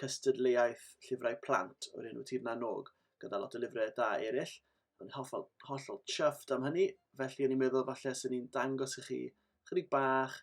cystadleuaeth llyfrau plant o'r enw Tir na n-Og, gyda lot o lyfrau da eraill. O'n i'n hollol, hollol chuffed am hynny, felly o'n i'n meddwl falle sy'n ni'n dangos i chi chydig bach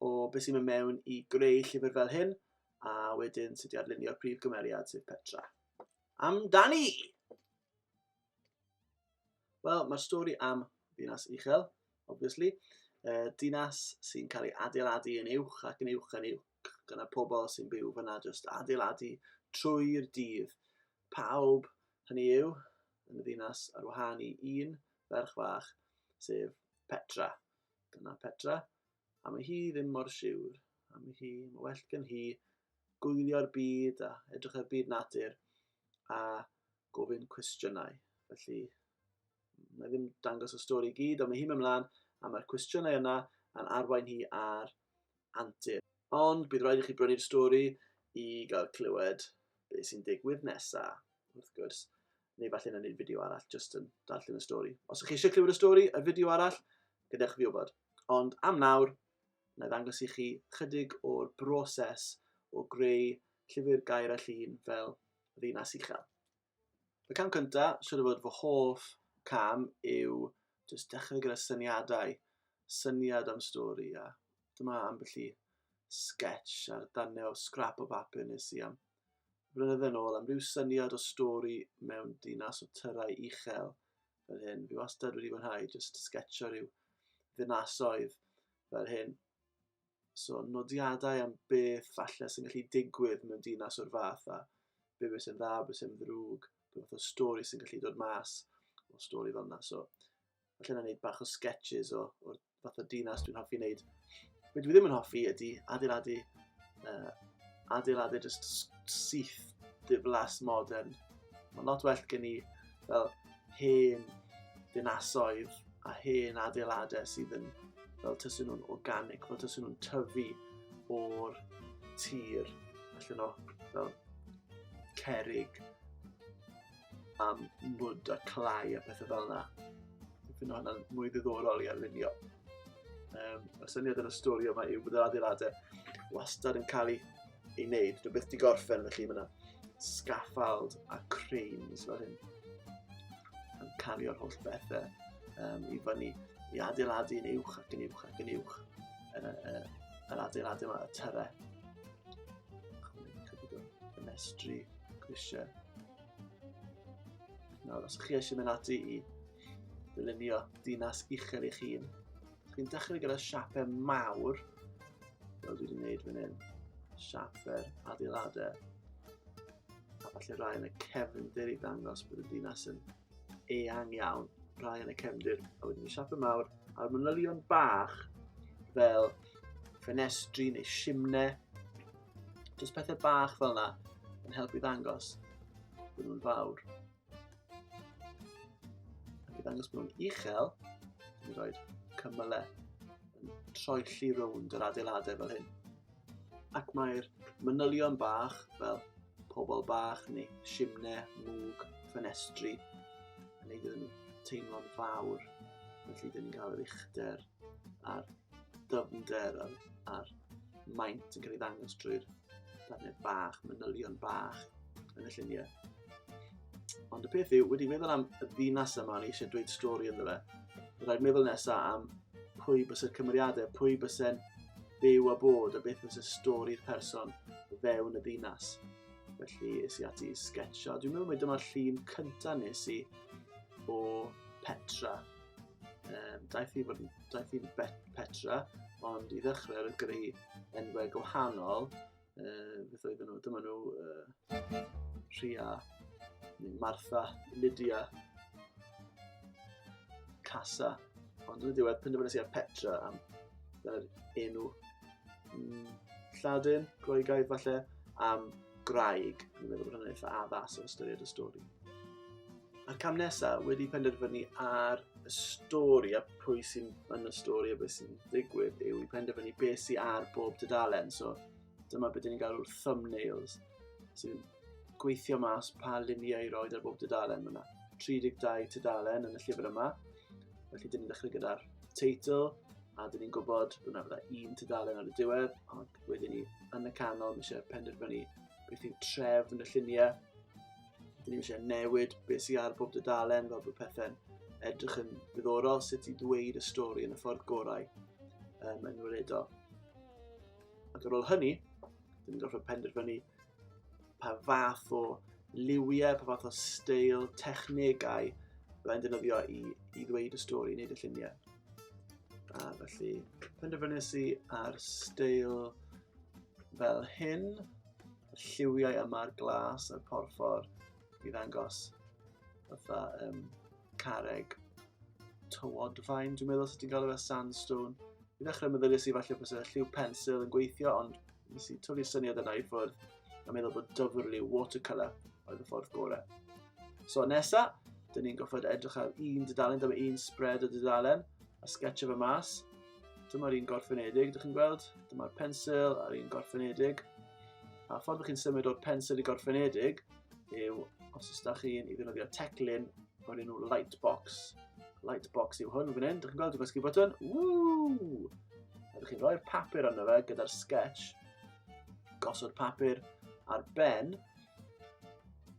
o beth sy'n mynd mewn i greu llyfr fel hyn, a wedyn sut i adlunio'r prif gymeriad sef Petra. Amdani! Wel, mae'r stori am ddinas uchel, obviously, uh, dinas sy'n cael ei adeiladu yn uwch ac yn uwch yn uwch gyda pobl sy'n byw fyna jyst adeiladu trwy'r dydd. Pawb, hynny yw, yn y ddinas ar wahân i un ferch fach, sef Petra. Dyna Petra, a mae hi ddim mor siwr. A mae hi, mae well gen hi gwylio'r byd a edrych ar byd natur a gofyn cwestiynau. Felly, mae ddim dangos y stori i gyd, ond mae hi'n mynd mlaen a mae'r cwestiynau yna yn arwain hi ar antur. Ond bydd rhaid i chi brynu'r stori i gael clywed beth sy'n digwydd nesaf, wrth gwrs. Neu falle na wneud fideo arall, jyst yn darllen y stori. Os ych chi eisiau clywed y stori, y fideo arall, gadewch fi wybod. Ond am nawr, na i ddangos i chi chydig o'r broses o greu llyfr gair a llun fel ddinas uchel. Y cam cynta, siwr o fod fy hoff cam yw jyst dechrau gyda syniadau, syniad am stori a dyma ambell i sketch ar danne o scrap o bapur nes i am flynydde yn ôl am ryw syniad o stori mewn dinas o tyrau uchel fel hyn. Fi wastad wedi fwynhau jyst sketcho rhyw ddinasoedd fel hyn. So, nodiadau am beth falle sy'n gallu digwydd mewn dinas o'r fath a be beth sy'n dda, beth sy'n ddrwg, beth fath o stori sy'n gallu dod mas o stori fel yna. So, falle na wneud bach o sketches o, o'r fath o dinas dwi'n hoffi wneud. Be dwi ddim yn hoffi ydy adeiladu, uh, adeiladu just syth diflas modern. Mae'n lot well gen i fel hen dinasoedd a hen adeiladau sydd yn fel tysyn nhw'n organic, fel tysyn nhw'n tyfu o'r tir allan o fel cerig a mwd a clai a pethau fel yna. Dwi'n meddwl hwnna'n mwy ddiddorol i arlunio. Um, y syniad yn y stori yma yw bod yr adeiladau wastad yn cael eu ei wneud. Dwi byth di gorffen, felly mae yna scaffald a cranes fel hyn. Yn cario'r holl bethau um, i fyny, i adeiladu yn uwch ac yn uwch ac yn uwch. Yn, yn, yn adeiladu yma, y tyre. Y mestri, grisiau. Nawr, os chi eisiau mynd ati i ddylunio dinas uchel eich hun, Dwi'n dechrau gyda siapau mawr, fel dwi wedi gwneud fan hyn. Siapau'r adeiladau. A falle rai yn y cefndir i ddangos bod y dinas yn eang iawn. Rai yn y cefndir, a wedyn y siapau mawr, a'r manylion bach fel ffenestri neu simnau. Just pethau bach fel yna yn helpu ddangos bod nhw'n fawr. Ac i ddangos bod nhw'n uchel, dwi'n rhoi cymylau yn troelli rownd yr adeiladau fel hyn. Ac mae'r manylion bach fel pobl bach neu simne, mwg, ffenestri yn neud iddyn nhw teimlo'n fawr. Felly dyn ni'n cael yr uchder a'r dyfnder a'r, ar maint yn cael ei ddangos drwy'r planed bach, manylion bach yn y lluniau. Ond y peth yw, wedi meddwl am y ddinas yma, ni eisiau dweud stori ynddo fe, rhaid meddwl nesaf am pwy bys y cymeriadau, pwy bys e'n byw a bod, a beth bys y stori'r person fewn y ddinas. Felly, es i ati i sketcho. Dwi'n meddwl mai dyma'r llun cyntaf nes i o Petra Um, daeth i fod daeth i'n petra, ond i ddechrau yn greu enwau gwahanol, uh, beth oedd nhw, dyma nhw uh, Rhia, neu Martha, Lydia, Casa, ond yn y diwedd penderfynu sy'n Petra am yr enw mm, Lladin, Groegaidd falle, am Graig, fi'n meddwl bod hwnna'n eitha addas o ystyried y stori. A'r cam nesaf wedi penderfynu ar y stori a pwy sy'n yn y stori a beth sy'n digwydd yw i penderfynu beth sy'n ar bob dydalen. So dyma beth ni'n galw'r thumbnails sy'n gweithio mas pa luniau i roed ar bob dydalen. Mae yna 32 tudalen yn y llyfr yma. Felly dyn ni'n dechrau gyda'r teitl, a dyn ni'n gwybod bod yna fydda un tudalen ar y diwedd, ond wedyn ni yn y canol, mi eisiau penderfynu beth yw trefn y lluniau. Dyn ni'n eisiau newid beth sy'n ar bob dudalen, fel bod pethau'n edrych yn ddiddorol, sut i ddweud y stori yn y ffordd gorau um, yn weledol. Ac ar ôl hynny, dyn ni'n gorfod penderfynu pa fath o liwiau, pa fath o steil, technegau byddai'n defnyddio i, i ddweud y stori, wneud y lluniau. A felly, penderfynus i ar steil fel hyn, y lliwiau yma'r glas a'r porffor i ddangos fatha um, careg tywodfaen, dwi'n meddwl sut ti'n gael efo sandstone. I ddechrau meddyliais i falle bod y lliw pensil yn gweithio, ond Nes i tyfu syniad yna i ffwrdd a meddwl bod dyfrlu watercolour oedd y ffordd gorau. So nesa, dyn ni'n goffod edrych ar un dydalen, dyma un spread o dydalen, a sketch efo mas. Dyma'r un gorffenedig, dych chi'n gweld? Dyma'r pensil a'r un gorffenedig. A ffordd ydych chi'n symud o'r pensil i gorffenedig yw, os ydych chi'n i ddefnyddio teclyn o'r enw Lightbox. Lightbox yw hwn fan hyn, dych chi'n gweld, dwi'n gwasgu botwn. Woo! A dych chi'n rhoi'r papur arno fe gyda'r sketch. Gosod papur ar ben.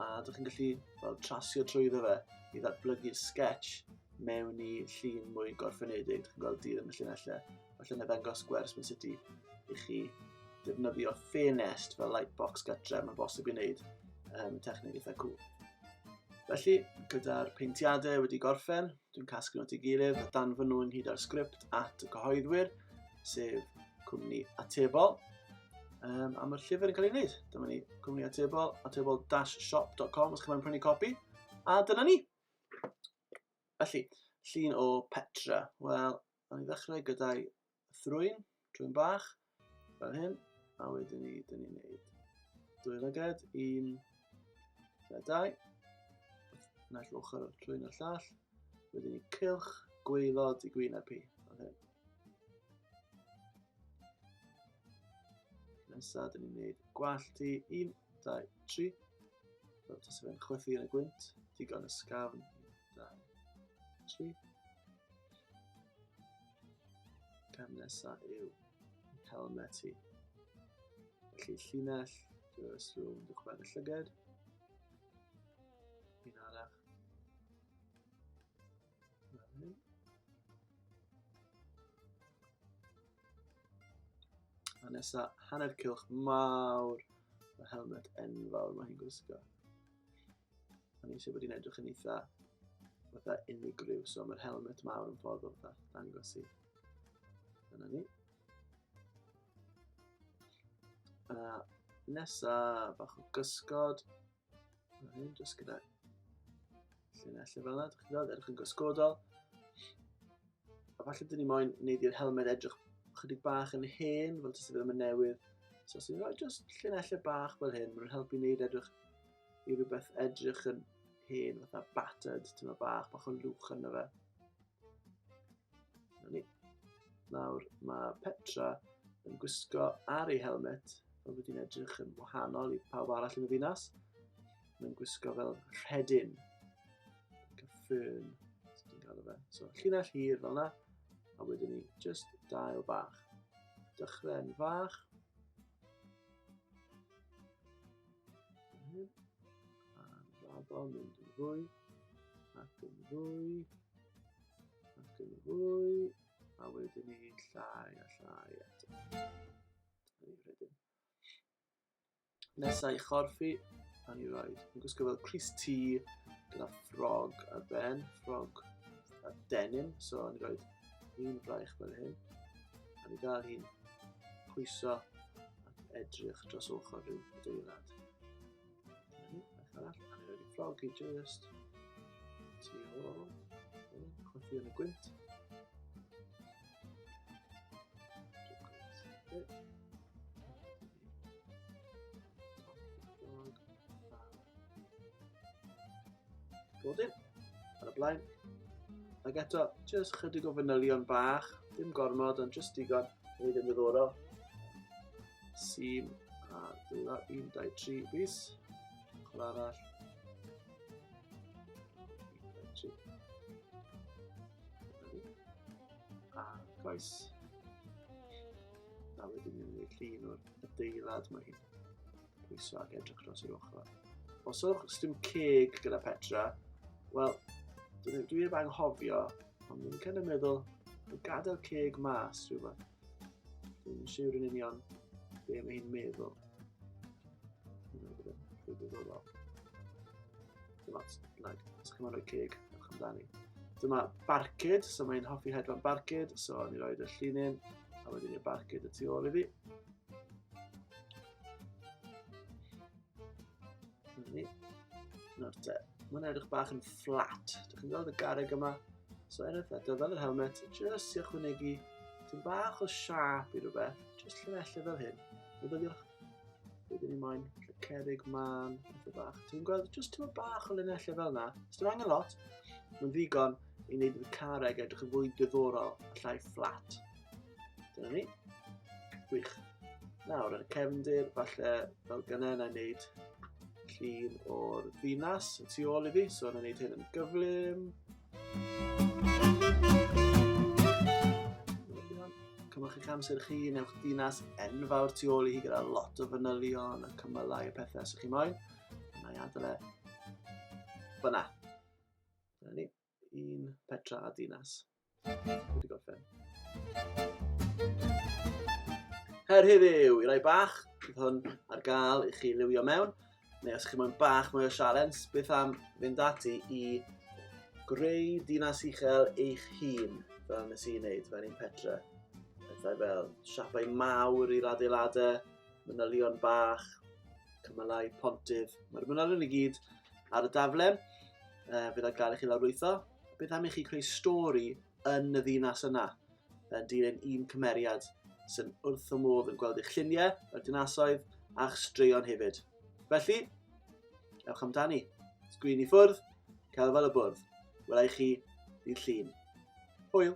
A dych chi'n gallu fel, trasio trwy iddo fe i ddatblygu'r sketch mewn i llun mwy gorffenedig. Dych chi'n gweld dydd yn y llunellau. Felly na ddangos gwers mewn sut i chi defnyddio ffenest fel lightbox gytre, mae'n bosib i wneud um, techneg eitha cwl. Felly, gyda'r peintiadau wedi gorffen, dwi'n casglu at ei gilydd a danfynu ynghyd â'r sgript at y cyhoeddwyr, sef cwmni atebol, um, am y llyfr yn cael ei wneud. Dyma ni, cwmni atebol, atebol-shop.com os chi'n prynu copi, a dyna ni. Felly, llun o Petra. Wel, Nawn ni ddechrau gyda'i thrwyn, trwyn bach, fel hyn. A wedyn ni, dyn ni'n neud dwy lyged, un, fe dau. Naill ochr o'r trwyn o'r llall. Wedyn ni cylch, gweilod i gwyn a pi, fel hyn. Nesaf, dyn ni'n neud gwallt i, un, dau, tri. Fel tas fe'n chwythu yn y gwynt, digon ysgafn, Da. Tri. Cam nesa yw helmet i. Felly llinell, dywys rhywun yn dychwedd y llyged. Un arall. Fan hyn. A nesa, hanner cilch mawr. Mae helmet enfawr mae hi'n gwisgo. O'n i'n siŵr bod hi'n edrych yn eitha fatha unigryw, so mae'r helmet mawr yn ffordd o fatha dangos i. Dyna ni. A nesa bach o gysgod. Dyna ni, jyst gyda llinellau fel yna, dych chi'n gweld, edrych yn gysgodol. A falle dyn ni moyn neud i'r helmed edrych chydig bach yn hen, fel tysi fe ddim yn newydd. So os ni'n rhoi just llinellau bach fel hyn, mae'n helpu wneud edrych i rhywbeth edrych yn hen, fatha battered, ti'n meddwl bach, bach o lwch yna fe. Na ni. Nawr, mae Petra yn gwisgo ar ei helmet, fel bod hi'n edrych yn wahanol i pawb arall yn y ddinas. Mae'n gwisgo fel rhedyn. Like a fern. So ti'n cael fe. So llinell hir fel yna. A wedyn ni just dail bach. Dychren fach. A'n raddo mynd yn fwy. Ac yn fwy. Ac yn fwy. A wedyn ni llai a llai eto. Dyna ni rhedyn. Nesa i chorffi, a ni roed. Yn gwisgo fel Chris T, gyda ffrog ar ben, ffrog a denim, so ni roed un fraich fel hyn. A ni gael hi'n pwyso ac edrych dros ochr rhyw adeilad. Ni, beth arall, a ni roed i ffrog i just tu ôl, chwethu yn y gwynt. Bod e? Ar y blaen. Ac eto, jyst chydig o fanylion bach, dim gormod, ond jyst digon, wneud yn ddiddorol. Sim a dwylo 1, 2, 3 fus. Ochr arall. A gais. A wedyn ni'n gwneud llun o'r adeilad mae hyn. Pwyso ac edrych dros yr ochr. Os yw'ch dim ceg gyda Petra, wel, dwi heb anghofio, ond dwi'n kind of meddwl, gadael ceg mas rhywbeth. Dwi'n siwr yn union be mae hi'n meddwl. Dwi'n meddwl. Dyma, like, os chi'n rhoi ceg, ewch amdani. Dyma barcud, so mae'n hoffi hedfan barcud, so ni roed y llinyn, a wedyn i'r barcud y tu ôl iddi. Ni. Nawr te, mae'n edrych bach yn fflat. Dych chi'n gweld y garreg yma? So er eto, fel yr helmet, jyst i ychwanegu tyn bach o siap i rhywbeth, jyst llinellau fel hyn. Myfyliwch, rydyn ni moyn cerig man, rhywbeth bach. Ti'n gweld, jyst tyn bach o linellau fel yna. Os dim angen lot, mae'n ddigon i wneud y carreg edrych yn fwy diddorol, llai fflat. Dyna ni. Gwych. Nawr, yn y cefndir, falle fel gynnau na i wneud llun o'r ddinas y tu ôl iddi, so yna wneud hyn yn gyflym. Cymwch eich amser chi, newch dinas enfawr tu ôl i hi gyda lot o fanylion a cymylau y pethau sy'ch chi moyn. Yna i adael e. Fyna. Dyna ni. un petra a dinas. Wedi gorffen. Her heddiw, i rai bach, bydd hwn ar gael i chi liwio mewn, neu os chi moyn bach mwy o sialens, beth am fynd ati i greu dinas uchel eich hun, fel nes i'n neud, fel un petra. Pethau fel siapau mawr i'r adeiladau, manylion bach, cymylau, pontydd. Mae'r mynolion i gyd ar y dafle. Uh, fydd o'n gael i chi lawrlwytho. Beth am i chi creu stori yn y ddinas yna? Yn dilyn un cymeriad sy'n wrth y modd yn gweld eich lluniau, y dinasoedd a'ch straeon hefyd. Felly, ewch amdani. Sgrin i ffwrdd, cael fel y bwrdd. Welai chi ddydd llun. Hwyl!